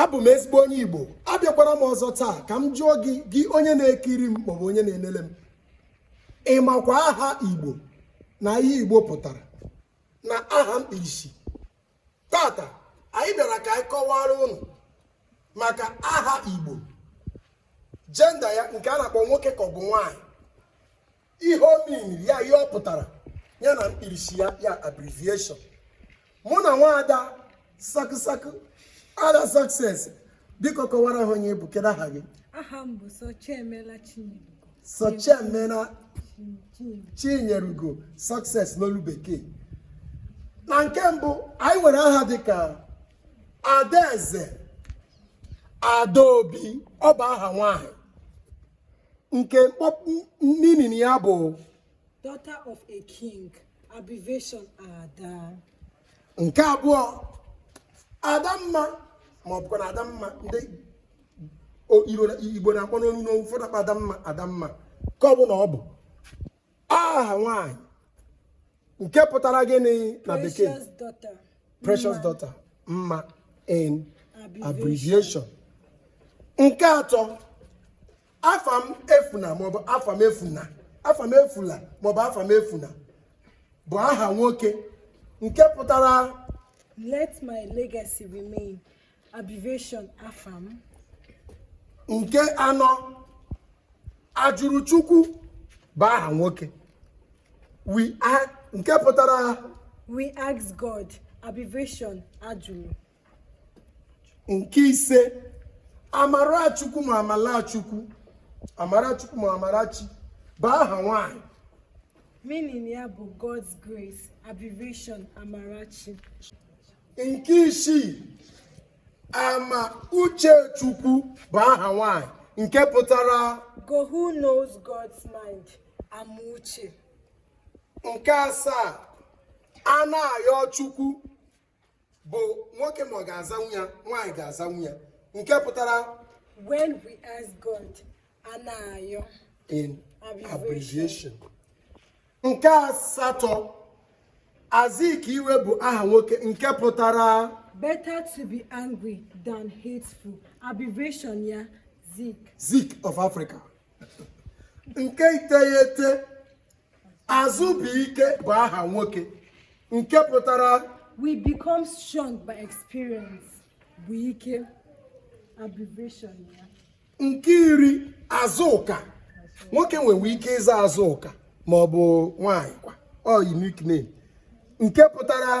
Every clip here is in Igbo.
abụ m ezigbo onye igbo abịakwara m ọzọ taa ka m jụọ gị gị onye na-ekiri m maọbụ onye na-enele m ị makwa aha igbo na ihe igbo pụtara na aha mkpirisi tata anyị bịara ka anyị kọwara ụnụ maka aha igbo gender ya nke a na-akpọ nwoke ka ọ bụ nwaanyị ihe o miniri ya ihe ọ pụtara ya na mkpirisi ya ya abbreviation mụ na nwaada sakụsakụ ada success biko kọwara ha onye ị bụ kedu aha gị aha m bụ Sochiemela Chinyelugo sochiemena Chinyelugo chinyerugo success n'olu bekee na nke mbụ anyị nwere aha dịka adaeze adaobi ọ bụ aha nwanyị nke mkpọpụ meaning ya bụ daughter of a king abbreviation ada nke abụọ adamma ma ọ bụkwa na adamma ndị igbo na-akpọ n'onu n'onu ụfọdụ akpọọ adamma adamma ka ọ bụ na ọ bụ aha nwaanyị nke pụtara gịnị na bekee precious daughter mma in abbreviation nke atọ Afamefuna maọbụ Afamefuna Afamefula maọbụ Afamefuna bụ aha nwoke nke pụtara let my legacy remain nke anọ Ajụrụchukwu bụ aha nwoke we are nke pụtara we ask god abbreviation ajụrụ nke ise amarachukwu ma amalachukwu amarachukwu ma amarachi bụ aha nwanyị meaning ya bụ god's grace abbreviation amarachi nke isii Amauchechukwu bụ aha nwanyị nke pụtara go who knows God's mind Amauche nke asaa Anayọchukwu bụ nwoke ma ọ ga-azanwu ya nwaanyị ga-azanwu ya nke pụtara when we ask God Anayọ in abbreviation nke asatọ Azikiwe bụ aha nwoke nke pụtara better to be angry than hateful abbreviation ya Zik Zik of Africa nke iteghete Azụbụike bụ aha nwoke nke pụtara we become strong by experience Bụike abbreviation ya nke iri Azụka nwoke nwere ike ịza Azụka ma ọ bụ nwaanyị kwa ọ unique name nke pụtara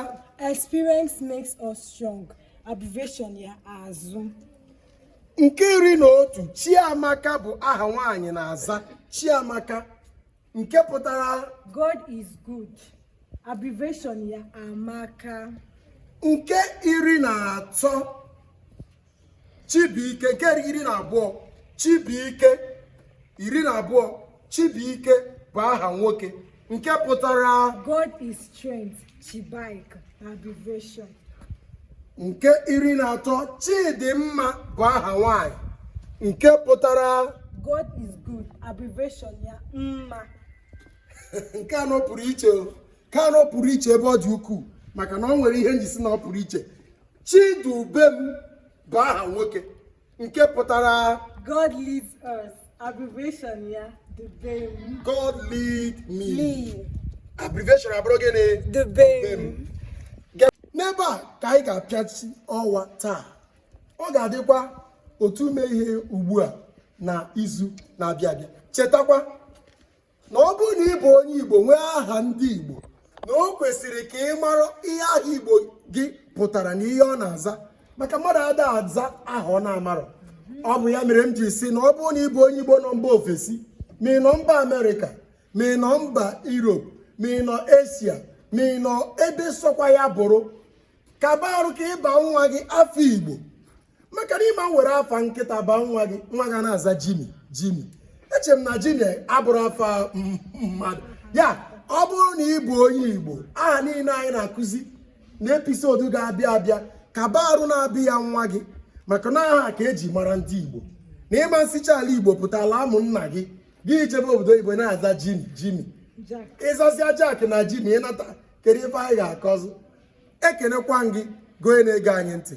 experience makes us strong abbreviation ya azụ nke iri na otu chiamaka bụ aha nwaanyị na-aza chiamaka nke pụtara god is good abbreviation ya amaka nke iri na atọ Chibuike nke iri na abụọ Chibuike iri na abụọ Chibuike bụ aha nwoke nke pụtara God is strength Chibuike abbreviation nke iri na atọ Chidimma bụ aha nwanyị nke pụtara God is good abbreviation ya mma nke anọ pụrụ iche nke anọ pụrụ iche ebe ọ dị ukwuu maka na o nwere ihe m ji si na ọ pụrụ iche Chidubem bụ aha nwoke nke pụtara God leads us abbreviation ya dubem God lead me abbreviation abụrụ gịnị dubem n'ebe a ka anyị ga-apịachi ọwa taa ọ ga-adịkwa otu ume ihe ugbu a na izu na-abịa abịa chetakwa na ọ bụrụ na ị bụ onye Igbo nwee aha ndị Igbo na o kwesịrị ka ị mara ihe aha Igbo gị pụtara na ihe ọ na-aza maka mmadụ ada aza aha ọ na-amarọ ọ bụ ya mere m ji si na ọ bụrụ na ị bụ onye Igbo nọ mba ofesi ma ị nọ mba Amerịka ma ị nọ mba Europe ma ị nọ Asia ma ị nọ ebe sọkwa ya bụrụ kaba arụ ka ị baa nwa gị afa Igbo maka na ị ma were afa nkịta baa nwa gị nwa ga na-aza Jimmy Jimmy eche m na Jimmy abụrọ afa mmadụ ya ọ bụrụ na ị bụ onye igbo aha niile anyị na-akụzi na episode ga-abịa abịa kaba arụ na-aba ya nwa gị maka na aha ka e ji mara ndị igbo na ị ma sicha ala igbo pụta ala amụ nna gị gị jebe obodo oyibo na-aza Jimmy Jimmy ị zasịa Jack na Jimmy ị nata kedu ife anyị ga-akọzị ekenekwa m gị gị onye na-ege anyị ntị